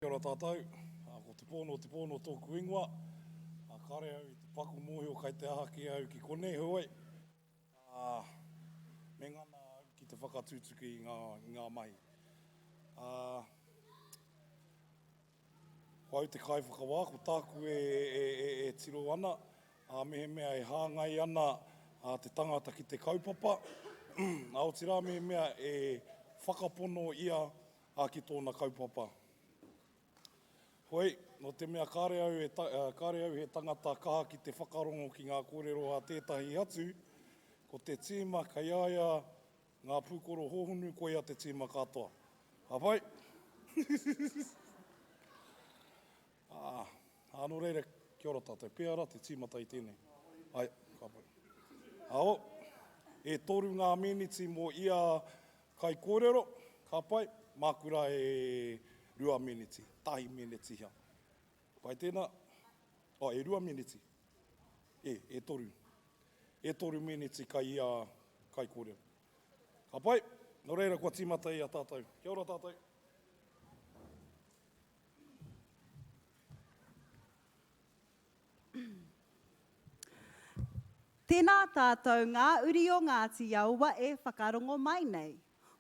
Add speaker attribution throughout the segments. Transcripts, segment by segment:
Speaker 1: Kia ora tātou, ko Te Pōno o Te Pōno tōku ingoa, kāre au i te paku mōhio kai te aha kē au ki konei, heoi, me ngana au ki te whakatutuki i ngā mahi. Ko au te kaiwhakawā, ko tāku e tiro ana, mehemea e hāngai ana te tangata ki te kaupapa, aotira mehemea e whakapono ia A ki tōna kaupapa. Hoi, nō te mea kāre au e, kāre au he tangata kaha ki te whakarongo ki ngā kōrero a tētahi atu, ko te tīma kei a ia ngā pūkoro hōhonu koia te tīma katoa. Hāpai! Ā, ā, nō reira, kia ora tātou. Pēhea rā te tīmata i tēnei? Ae, ka pai. Ao, e toru ngā mīniti mō ia kaikōrero, ka pai, māku rā e rua mīniti, tahi mīniti hea. Pai tēnā? Oh, e rua mīniti? E, e toru. E toru mīniti kai ia kaikōrero. Ka pai, nō reira kua tīmata e a tātou. Kia ora tātou.
Speaker 2: Tēnā tātou ngā uri o Ngāti Awa e whakarongo mai nei.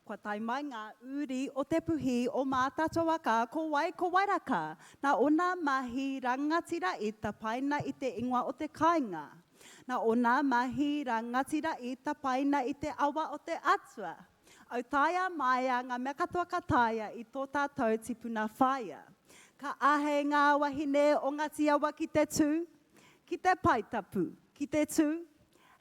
Speaker 2: Kua tae mai ngā uri o Te Puhi o Mātatoa ka ko wai ko Wairaka nā ōna mahi rangatira i tapaina i te ingoa o te kāinga, nā ōna mahi rangatira i tapaina i te awa o te Atua, Autaia, Maia, ngā mea katoa ka taea i tō tātou tipuna whāia. Ka āhei ngā wahine o Ngati Awa ki te tū, ki te pae tapu, ki te tū,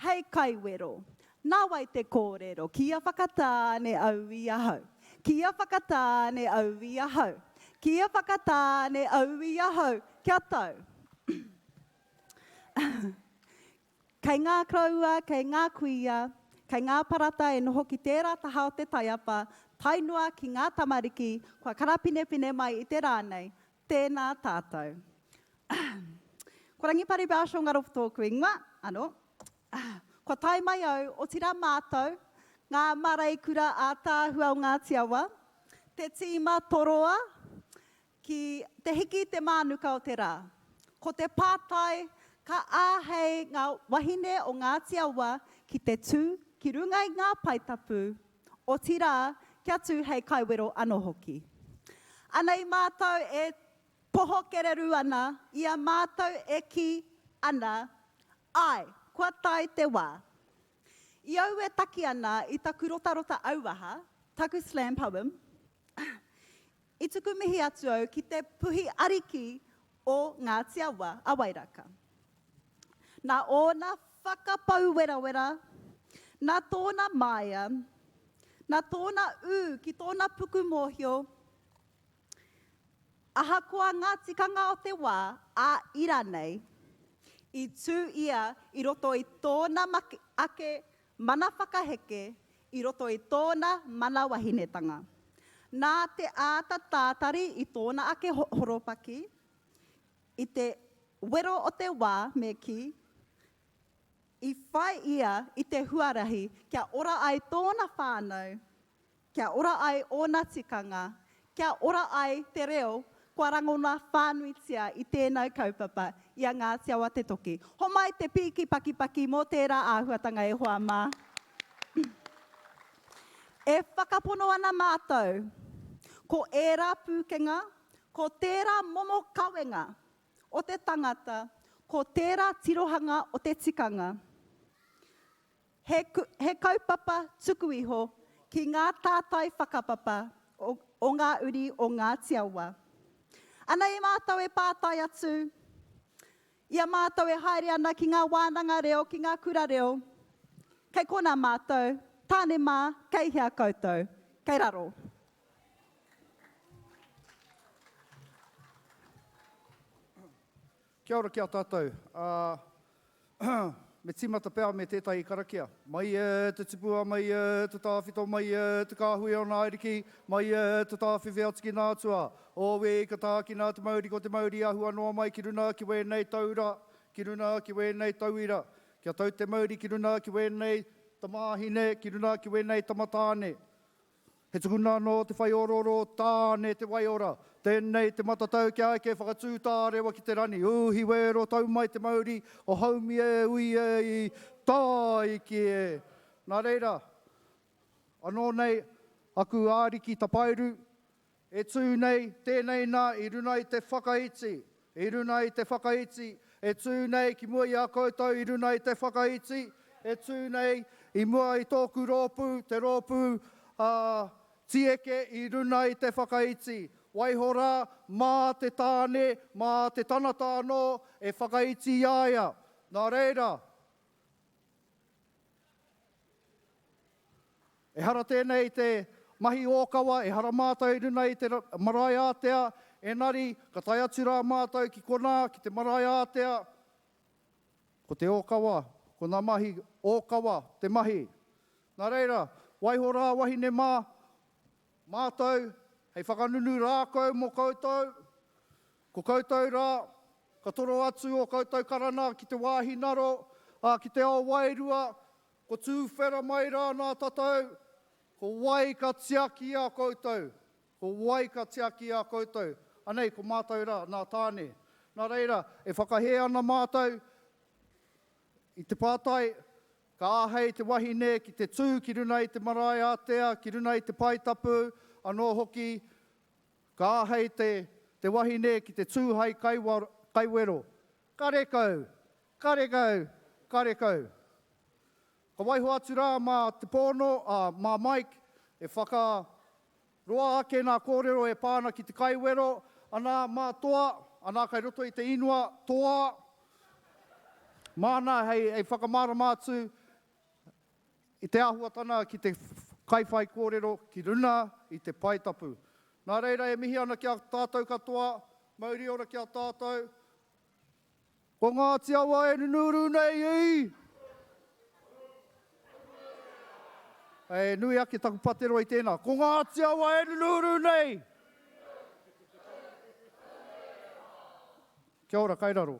Speaker 2: hei kai wero. Nāwai te kōrero, kia whakatāne au i ahau, kia whakatāne au i ahau, kia whakatāne au i ahau, kia tau. Kei ngā koroua, kei ngā kuia, kei ngā parata e noho ki tērā taha o te taiapa, tae noa ki ngā tamariki kua karapinepine mai i te rā nei, tēnā tātou. Ko Rangipari Bauschel Ngaropu tōku ingoa, anō. Kua tae mai au, otirā mātou, ngā māreikura ātaahua o Ngāti Awa, te tīma toroa, Ki te hiki i te mānuka o te rā. Ko te pātai, ka āhei ngā wahine o Ngāti Awa ki te tū ki runga i ngā pae tapu, otirā, kia tū hei kaiwero anō hoki. Ana i mātou e poho kererū ana, i a mātou e kī ana, āe, kua tae te wā. I au e taki ana i taku rotarota auaha, taku slam poem, I tuku mihi atu au ki te puhi ariki o Ngāti Awa, a Wairaka. Nā ōna whakapau werawera, nā tōna māia, nā tōna ū ki tōna puku mōhio, ahakoa ngā tikanga o te wā ā ira nei, i tū ia i roto i tōna make ake Mana whakaheke i roto i tōna mana wahinetanga. Nā te āta tātari i tōna ake horopaki, i te wero o te wā me kī, i whai ia i te huarahi kia ora ai tōna whānau Kia ora ai ōna tikanga, kia ora ai te reo kua rangona whānuitia i tēnau kaupapa i a Ngāti Awa te Toki. Homai te pīki pakipaki mō tērā āhuatanga e hoa mā. E whakapono ana mātou, ko ērā pūkenga, ko tērā momo kawenga o te tangata, ko tērā tirohanga o te tikanga, He, he kaupapa tuku iho ki ngā tātai whakapapa o, o ngā uri o Ngāti Awa. Anei mātou e pātai atu i a mātou e haere ana ki ngā wānanga reo, ki ngā kura reo, kei konā mātou, Tāne mā, kei hea koutou? Kei raro.
Speaker 3: Kia ora ki a tatou. Aa Me timata pea me tetahi karakia. Mai e te tipua, mai e te tawhito, mai e te kahui o na ariki, mai e te tawhiwhi atu ki na atua. Owe ka taakina te mauri ko te mauri ahua noa mai ki runa ki wenei taura, ki runa ki wenei tauira. Kia tau te mauri ki runa ki wenei tamahine, ki runa ki wenei tamatane. He tukuna anō te whaiororo o Tāne te waiora. Tēnei te matatau kia eke whakatū tārewa ki te rani. Uhi wēro tau mai te mauri o Haumi e ui e i tāiki e. Nā reira, anō nei aku āriki tapairu E tū nei tēnei nā i runa i te whakaiti, i runa i te whakaiti, e tū nei ki mua i a koutou i runa i te whakaiti, e tū nei i mua i tōku rōpū, te rōpū a Tieke i runa i te whakaiti. Waiho rā, mā te tāne, mā te tangata anō e whakaiti i a ia. Nā reira. Ehara tēnei te mahi ōkawa, ehara mātou i runa i te marae ātea, engari ka tae atu rā mātou ki konā, ki te marae ātea, ko te ōkawa, ko ngā mahi ōkawa te mahi. Nā reira, waiho rā wahine mā, mātou hei whakanunu rākau mō koutou, Ko koutou rā, ka toro atu ō koutou karana ki te wāhi naro, ā, ki te ao wairua, ko tūwhera mai rā nā tātou, ko wai ka tiaki i a koutou, ko wai ka tiaki i a koutou, anei ko mātou rā, nā Tāne. Nā reira, e whakahē ana mātou i te pātai, Ka āhei te wahine ki te tū ki runai te marae ātea, ki runai te pae tapu, anō hoki Ka āhei te te wahine ki te tū hai kaiwero, Karekau! Karekau! Karekau! Ka waiho atu rā mā Te Pōno, ā, mā Mike, e whaka roa ake nā kōrero e pā ana ki te kaiwero, Anā, mā Toa, anā kai roto i te inua, Toa! Māna hei hei whakamārama atu I te āhuatana ki te kaiwhaikōrero ki runa i te pae tapu. Nā reira e mihi ana ki a tātou katoa, mauri ora ki a tātou. Ko Ngāti Awa e nunuuru nei i! He nui ake taku pateroa i tēnā. Ko Ngāti Awa e nunuuru nei! Kia ora, kai raro.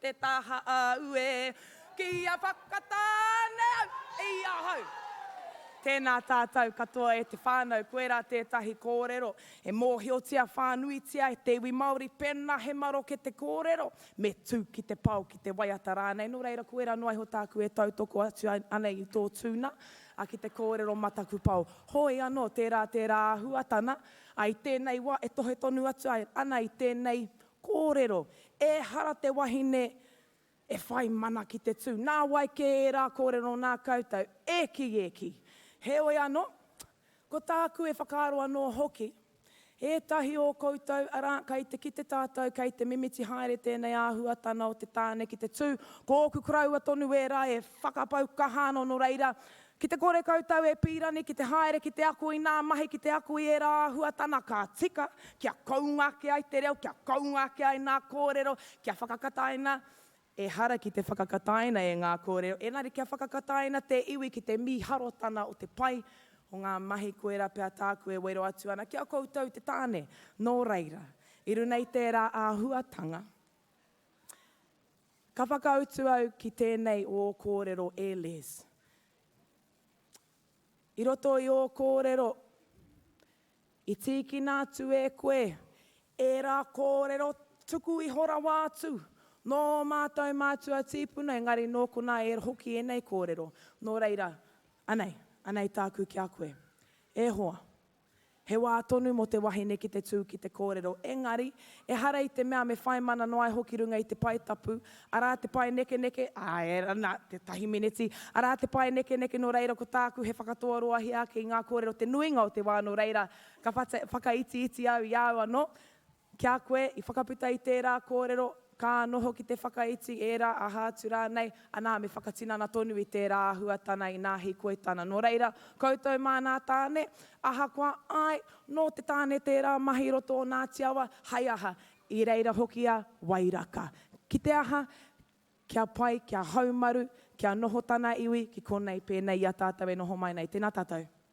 Speaker 4: Te taha āu e kia whakatāne au i ahau. Tēnā tātou katoa e te whānau, koirā tētahi kōrero e mōhiotia whānuitia e te iwi Māori, pēnā he maroke te kōrero, me tū ki te pao, ki te waiata rānei, nō reira koirā noa iho tāku e tautoko atu ana i tō tūna, a ki te kōrero mataku pao. Hoi anō, tērā tērā āhuatana, a i tēnei wā e tohe tonu atu ana i tēnei Kōrero, Ehara te wahine e whai mana ki te tū. Nā wai kē ērā kōrero nā koutou, ēki ēki. Heoi anō, ko tāku e whakaaro anō hoki, ētahi o koutou, arā, kei te kite tātou kei te mimiti haere tēnei āhuatana o te tāne ki te tū, ko ōku koroua tonu ērā e whakapau kaha anō nō reira, Ki te kore koutou e pīrani ki te haere ki te ako i nā mahi ki te ako i ērā āhuatana ka tika kia kounga ake ai te reo, kia kounga ake ai nā kōrero, kia whakakataina, ehara ki te whakakataina e ngā kōrero, engari kia whakakataina te iwi ki te mīharotana o te pai o ngā mahi koirā pea tāku e wero atu ana ki a koutou te tāne. Nō reira, i runa i tērā āhuatanga, Ka whakautu au ki tēnei ō kōrero e Les. I roto i ō kōrero, i tīkina atu e koe ērā kōrero tuku iho rawa atu nō ō mātou mātua tīpuna, engari nō konā e hoki ēnei kōrero. Nō reira, anei, anei tāku ki a koe. E hoa, He wā tonu mō te wahine ki te tū ki te kōrero, engari, ehara i te mea me whai mana noa iho ki runga i te pae tapu, arā te pae nekeneke, āe rā, nā, tētahi mineti, arā te pae nekeneke nō reira ko tāku he whakatoaroahia ake i ngā kōrero te nuinga o te wā nō reira ka whakaitiiti au i a au anō, Ki a koe, i whakaputa i tērā kōrero, ka noho ki te whakaiti ērā aha atu rānei, anā, me whakatinana tonu i tērā āhuatana inā hīkoi tana. Nō reira, koutou māna tāne, ahakoa, āe, nō te tāne tērā mahi roto o Ngāti Awa, hai aha, i reira hoki a Wairaka. Ki te aha, kia pai, kia haumaru, kia noho tana iwi ki konei pēnei i a tātou e noho mai nei. Tēnā tātou.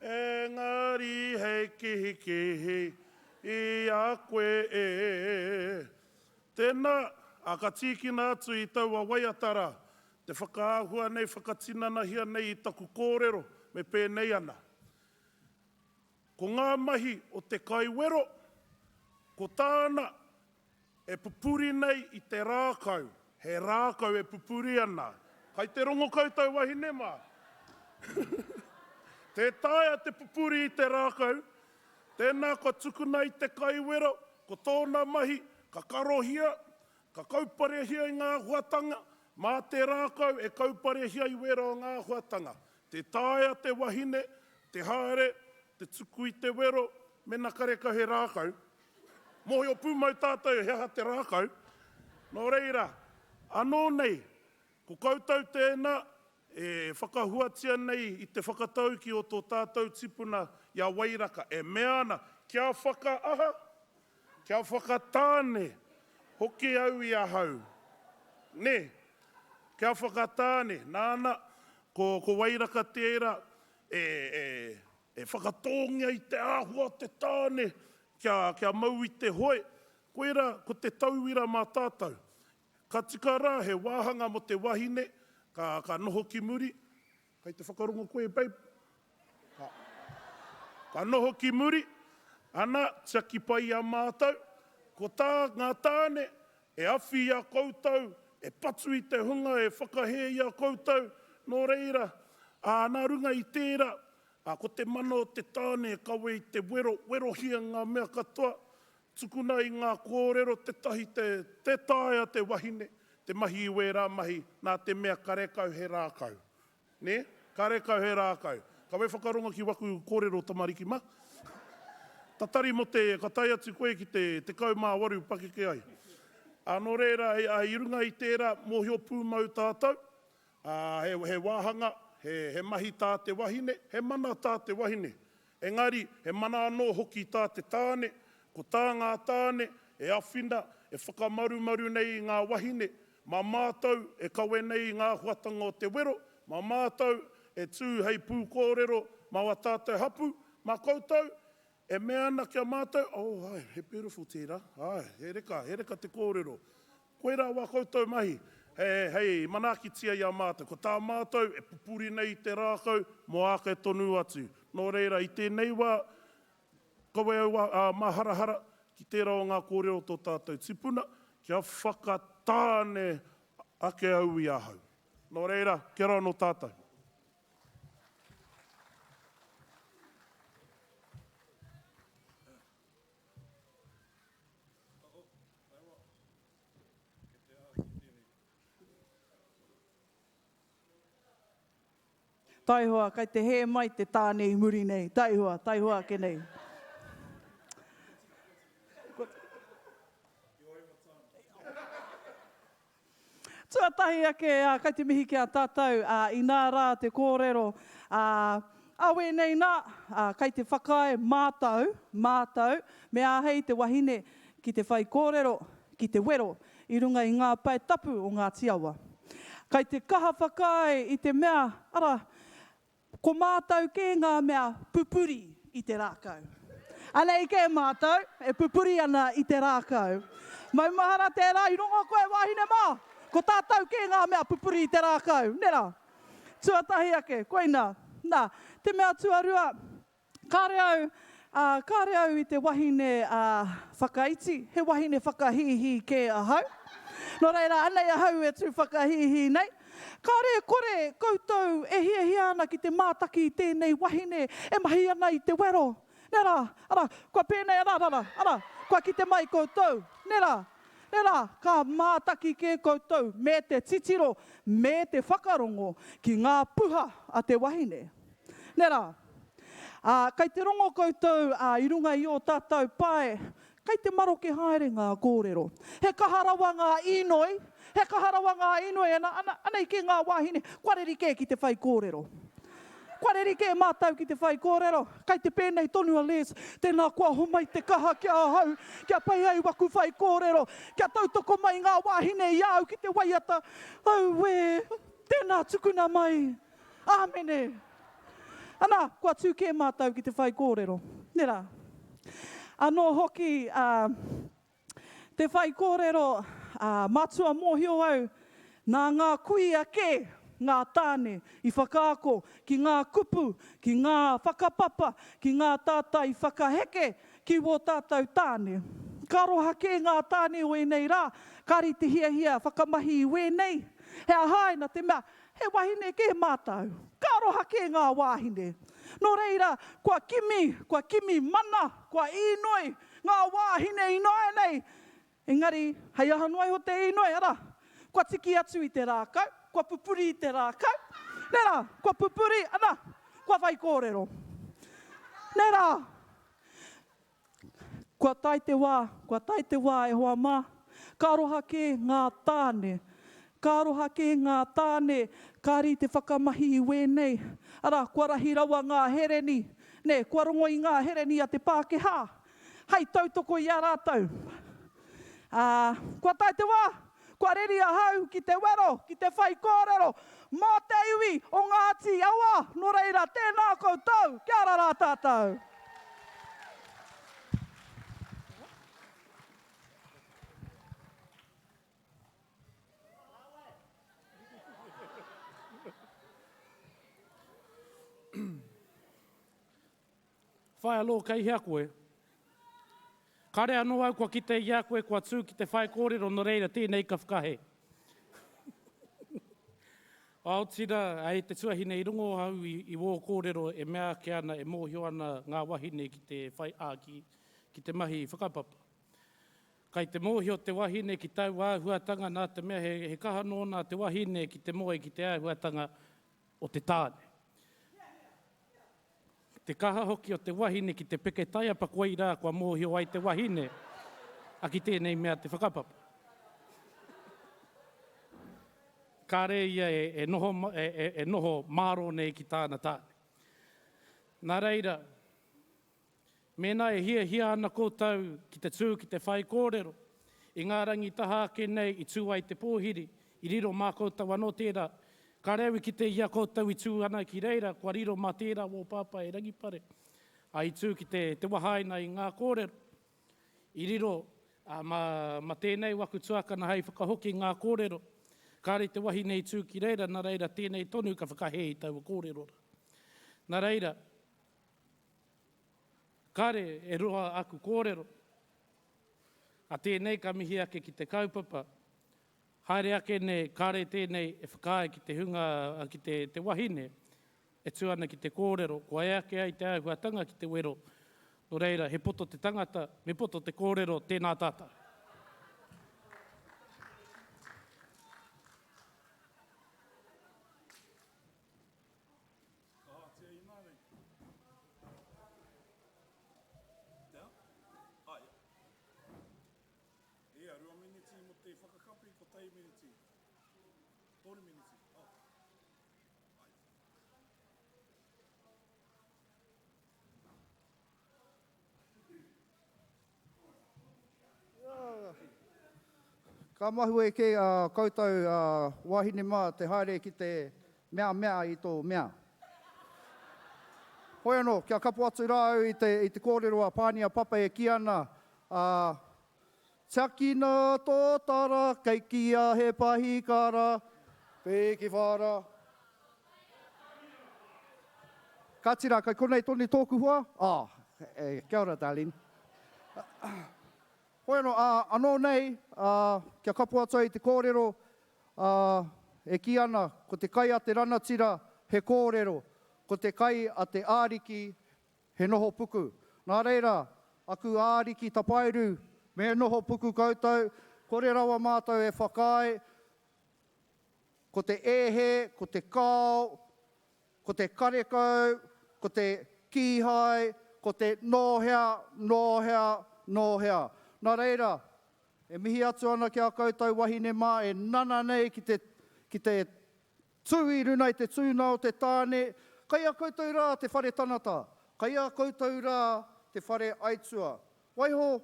Speaker 5: Engari hei kihikihi i a koe e. Tēnā, ā, ka tīkina atu i taua waiata rā, te whakaahua nei, whakatinanahia nei i taku kōrero, me pēnei ana. Ko ngā mahi o te kaiwero, ko tāna, E pupuri nei i te rākau, he rākau e pupuri ana. Kai te rongo koutou wahine mā. Tē taea te pupuri i te rākau, tēnā kua tukuna i te kaiwero, ko tōna mahi, ka karohia, ka kauparehia i ngā huatanga, mā te rākau e kauparehia i wero o ngā huatanga. Tē taea te wahine, te haere, te tuku i te wero, mena karekau he rākau, Mōhio pūmau tātou he aha te rākau, nō reira, anō nei, ko koutou tēnā e whakahuatia nei i te whakataukī o tō tātou tipuna i a Wairaka e mea ana, kia whakaaha, kia whakatāne hoki au i ahau. Nē, kia whakatāne, nāna, ko Wairaka tērā e E whakatōngia i te āhua o te tāne kia, kia mau i te hoe, koirā ko te tauira mā tātou. Ka tika rā he wāhanga mō te wahine, ka, ka noho ki muri, kei te whakarongo koe babe? Ka, ka noho ki muri, ana, tiaki pai i a mātou. Ko tā ngā tāne, E awhi i a koutou, e patu i te hunga e whakahē i a koutou, nō reira, ā, nā runga i tērā, ā, ko te mana o te tāne e kawe i te wero, werohia ngā mea katoa, tukuna i ngā kōrero tētahi te, tē taea te wahine te mahi i wērā mahi, nā te mea karekau he rākau. Nē? Karekau he rākau. Kawe whakarongo ki waku kōrero tamariki mā. Tatari mō te, ka tae atu koe ki te tekau mā waru pakeke ai. Ā, nō reira, i runga i tērā, mōhio pūmau tātou, ā, he wāhanga, he mahi tā te wahine, he mana tā te wahine. Engari, he mana anō hoki tā te tāne, ko tā ngā tāne e awhina, e whakamarumaru nei i ngā wahine, mā mātou e kawe nei i ngā huatanga o te wero, mā mātou e tū hei pūkōrero mā wā tātou hapū, mā koutou e mea ana ki a mātou, oh, ae, he beautiful tērā, ae, he reka, he reka te kōrero, Koirā wā koutou mahi hei manaakitia i a mātou. Ko tā mātou e pupuri nei i te rākau mō āke tonu atu. Nō reira, i tēnei wā, kawe au a Māharahara ki tērā o ngā kōrero o tō tātou tipuna, kia whakatāne ake au i ahau. Nō reira, kia roa anō tātou.
Speaker 6: Taihoa, kai te hē mai te tāne i muri nei. Taihoa, taihoa ake nei. Tuatahi ake, kai te mihi ki a tatou, inā rā te kōrero, awe nei nā, kai te whakaae mātou, mātou, me āhei te wahine ki te whaikōrero, ki te wero i runga i ngā pae tapu o Ngāti Awa. Kai te kaha whakaae i te mea, ara, Ko mātou kē ngā mea pupuri i te rākau. Anei kē mātou e pupuri ana i te rākau. Maumahara tērā i rongo koe wāhine mā! Ko tātou kē ngā mea pupuri i te rākau, nē rā? Tuatahi ake, koina, nā, te mea tuarua, Kāre au, ā, kāre au i te wahine, ā, whakaiti, he wahine whakahīhī kē ahau. Nō reira, anei ahau e tū whakahīhī nei. Kāre e kore koutou e hiahia ana ki te mātaki i tēnei wahine e mahi ana i te wero, nē rā, arā, kua pēnei, arā, arā, arā, kua kite mai koutou, nē rā, nē rā, ka mātaki kē koutou me te titiro, me te whakarongo ki ngā puha a te wahine. Nē rā. Ā, kei te rongo koutou, ā, i runga i ō tātou pae, kei te maroke haere ngā kōrero. He kaha rawa ngā inoi, he kaha rawa ngā inoi, ana, ana, anei kē ngā wāhine, kua reri kē ki te whai kōrero. Kua reri kē mātou ki te whai kōrero. Kei te pēnei tonu a Les, tēnā kua homai te kaha ki ahau, kia pai ai waku whai kōrero, kia tautoko mai ngā wāhine i a au ki te waiata. Auē! Tēnā tukuna mai! Āmene! Ana, kua tū kē mātou ki te whaikōrero. Nera. Anō hoki ā te whaikōrero ā matua mōhio au nā ngā kuia kē ngā tāne i whakaako ki ngā kupu, ki ngā whakapapa, ki ngā tātai whakaheke ki wō tātou tāne. Ka aroha kē ngā tāne o ēnei rā, kāri te hiahia whakamahi i wēnei. He aha āe nā te mea He wahine kē mātou. Ka aroha kē ngā wāhine. Nō reira, kua kimi, kua kimi mana, kua īnoi ngā wāhine ināianei. Engari, hei aha noa iho te īnoi, arā, kua tiki atu i te rākau, kua pupuri i te rākau. Nē rā, kua pupuri, ana, kua whaikōrero. Nē rā, Kua tae te wā, kua tae te wā e hoa mā, ka aroha kē ngā tāne, ka aroha kē ngā tāne, kāri te whakamahi i wēnei, arā, kua rahi rawa ngā hereni, nē, kua rongo i ngā hereni a te Pākehā, hei tautoko i a rātou. Ā, kua tae te wā, kua reri ahau ki te wero, ki te whai kōrero mō te iwi o Ngāti Awa, nō reira, tēnā koutou, kia ara rā tātou.
Speaker 7: Whai anō kei hea koe? Kāre anō au kua kite i a koe kua tū ki te whaikōrero nō reira tēnei ka whakahe. Aotira, hei te tuahine i rongo au i wō kōrero e mea ake ana e mōhio ana ngā wahine ki te whai a ki ki te mahi whakapapa. Kei te mōhio te wahine ki taua āhuatanga nā te mea he kaha nōna te wahine ki te moe ki te āhuatanga o te tāne. Te kaha hoki o te wahine ki te peke taiapa koirā kua mōhio ai te wahine a ki tēnei mea te whakapapa. Kāre ia e noho e noho mārō nei ki tāna tāne. Nā reira, Mēnā e hiahia ana koutou ki te tū ki te whaikōrero, i ngā rangi taha ake nei i tū ai te pōhiri, i riro mā koutou anō tērā. Kāre au i kite i a koutou i tū ana ki reira, kua riro mā tērā wō pāpā e Rangipare, ā, i tū ki te wahaina i ngā kōrero. I riro, ā, mā tēnei waku tuakana hei whakahoki i ngā kōrero. Kāre te wahine i tū ki reira, nā reira tēnei tonu ka whakahē i taua kōrero rā. Nā reira. Kāre e roa aku kōrero. A tēnei ka mihi ake ki te kaupapa. Haere ake nei, kāre tēnei e whakaae ki te hunga, ki te, te wahine e tū ana ki te kōrero, kua e ake ai te āhuatanga ki te wero, nō reira, he poto te tangata, me poto te kōrero, tēnā tātou. Whakahātia i nāianei. Tea? Aia. Ia, rua miniti
Speaker 3: mo te whakakapi, kotahi miniti. Toru miniti. Oh. Aia. Ka mahue kē ā koutou wāhine mā te haere ki te mea mea i tō mea. Hoi anō, kia kapo atu rā au i te kōrero a Pānia Papa e kī ana, Tiakina tō tara, kei kīia he pahikara, pēkiwhara, Ka tira, kei konei tonu tōku hoa? Oh, kia ora, darling. Hoi anō, ā, anō nei, ā, kia kapo atu ai te kōrero, ā, e kī ana, ko te kai a te ranatira, he kōrero, ko te kai a te āriki, he noho puku. Nā reira, aku āriki tapairu, me noho puku koutou, kore rawa mātou e whakaae, Ko te ehe, ko te kao, ko te karekau, ko te kīhai, ko te nō hea, nō hea, nō hea. Nā reira, e mihi atu ana ki a koutou wahine mā e nana nei ki te, ki te tū i runa i te tūnga o te tāne, kei a koutou rā te whare tanata, kei a koutou rā te whare aitua. Waiho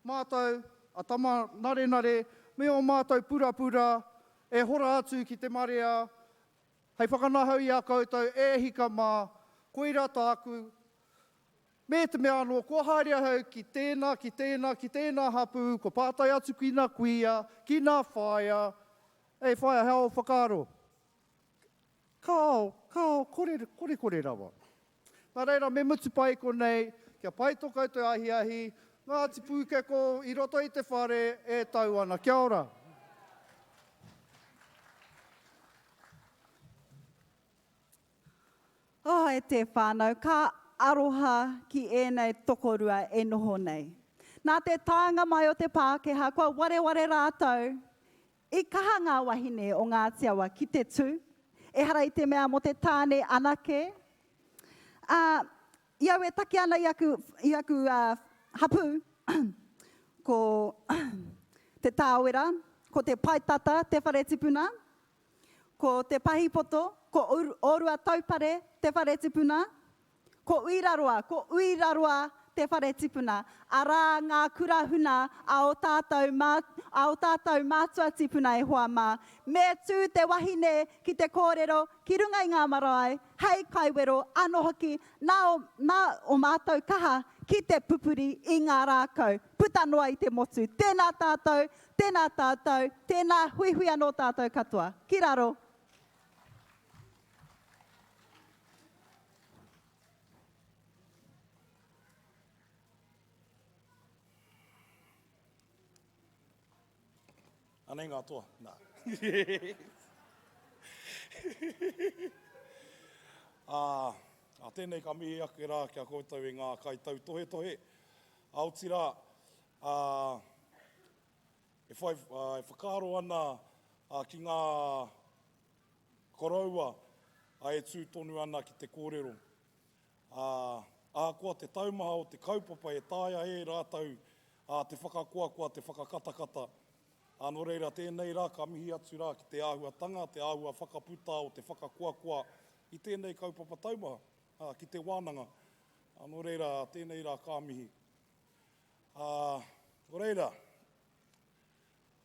Speaker 3: Mātou, a Tama Narenare, me ō mātou purapura, e hora atu ki te marea, hei whakanahau i a koutou, e hika mā, koirā tāku, me te mea anō, kua haere ahau ki tēnā, ki tēnā, ki tēnā hapū, kua pātai atu ki nā kuia, ki nā whaea, Hei whaea, he ao whakaaro? Ka ao, ka ao, kore, kore, kore rawa. Nā reira, me mutu pai konei, kia pai tō koutou ahiahi, Ngāti Pūkeko i roto i te whare e tau ana. Kia ora.
Speaker 2: Oh, e te whānau, ka aroha ki ēnei tokorua e noho nei. Nā te taenga mai o te Pākehā, kua wareware rātou I kaha ngā wahine o Ngāti Awa ki te tū, ehara i te mea mō te tāne anake, ā, i au e taki ana i aku, i aku hapū, ko Te Tāwera, ko Te Paetata, te whare tipuna, ko Te Pahipoto, ko Ōruataupare, te whare tipuna, Ko Uiraroa, ko Uiraroa te whare tipuna, arā ngā kura huna a ō tātou, a ō tātou mātua tipuna e hoa mā. Me tū te wahine ki te kōrero ki runga i ngā marae, hei kaiwero anō hoki, nā, nā ō mātou kaha ki te pupuri i ngā rākau, puta noa i te motu. Tēnā tātou, tēnā tātou, tēnā, huihui anō tātou katoa. Ki raro.
Speaker 1: Anei ngā toa. Nā. a, a tēnei ka mihi ake rā kia koutou i ngā kaitau tohe tohe. A oti rā, a, e, whai, a, e whakaaro ana a, ki ngā Koroua, a e tū tonu ana ki te kōrero, ā, ahakoa te taumaha o te kaupapa e taea e rātou ā te whakakoakoa te whakakatakata, ā, nō reira tēnei rā ka mihi atu rā ki te āhuatanga, te āhua whakaputa o te whakakoakoa i tēnei kaupapa taumaha, ā, ki te wānanga, ā, nō reira tēnei rā ka mihi. Ā, nō reira,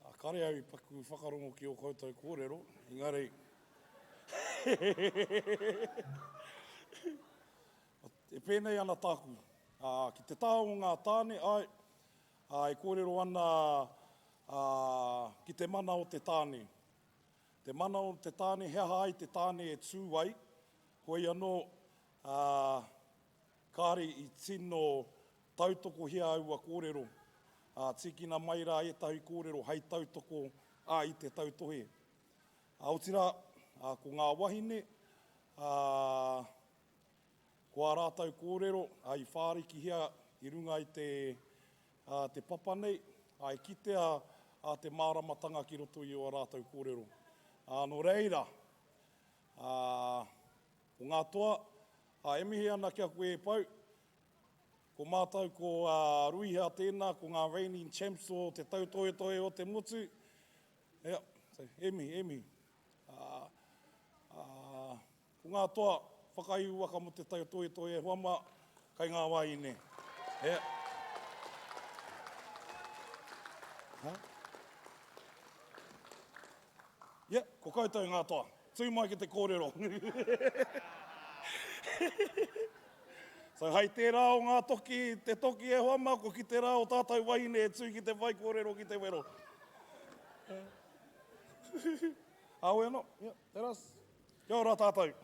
Speaker 1: A kare au i paku whakarongo ki o koutou korero, engari e penei ana taku, a ki te taha o nga tane, ae, a e korero ana a ki te mana o te tane. Te mana o te tane, he aha ai te tane e tu ai, hoi ano a Kāre i tino tautokohia aua kōrero, ā, tīkina mai rā ētahi kōrero hei tautoko a i te tautohe. Ā, otirā, ā, ko ngā wahine, ā, ko ā rātou kōrero, ā, i whārikihia i runga i te, ā, te papa nei, ā, i kitea, ā, te māramatanga ki roto i ō rātou kōrero. Ā, nō reira, ā, Ko ngā toa, ā, e mihi ana kia koe e pau. Ko mātou ko Ruiha tēnā, ko ngā reigning champs o te tautohetohe o te motu. Ea, e mihi, e mihi. Ko ngā toa, whakaihu waka mō te tautohetohe e hoa mā, kai ngā wāhine. Ea. Ea, ko koutou ngā toa. Tū mai ki te kōrero. So hai tērā o ngā toki, te toki e hoa mā, kua kite rā o tātou wahine e tū ki te whaikōrero ki te wero. Awe anō, yeah, tērā. Kia ora tātou.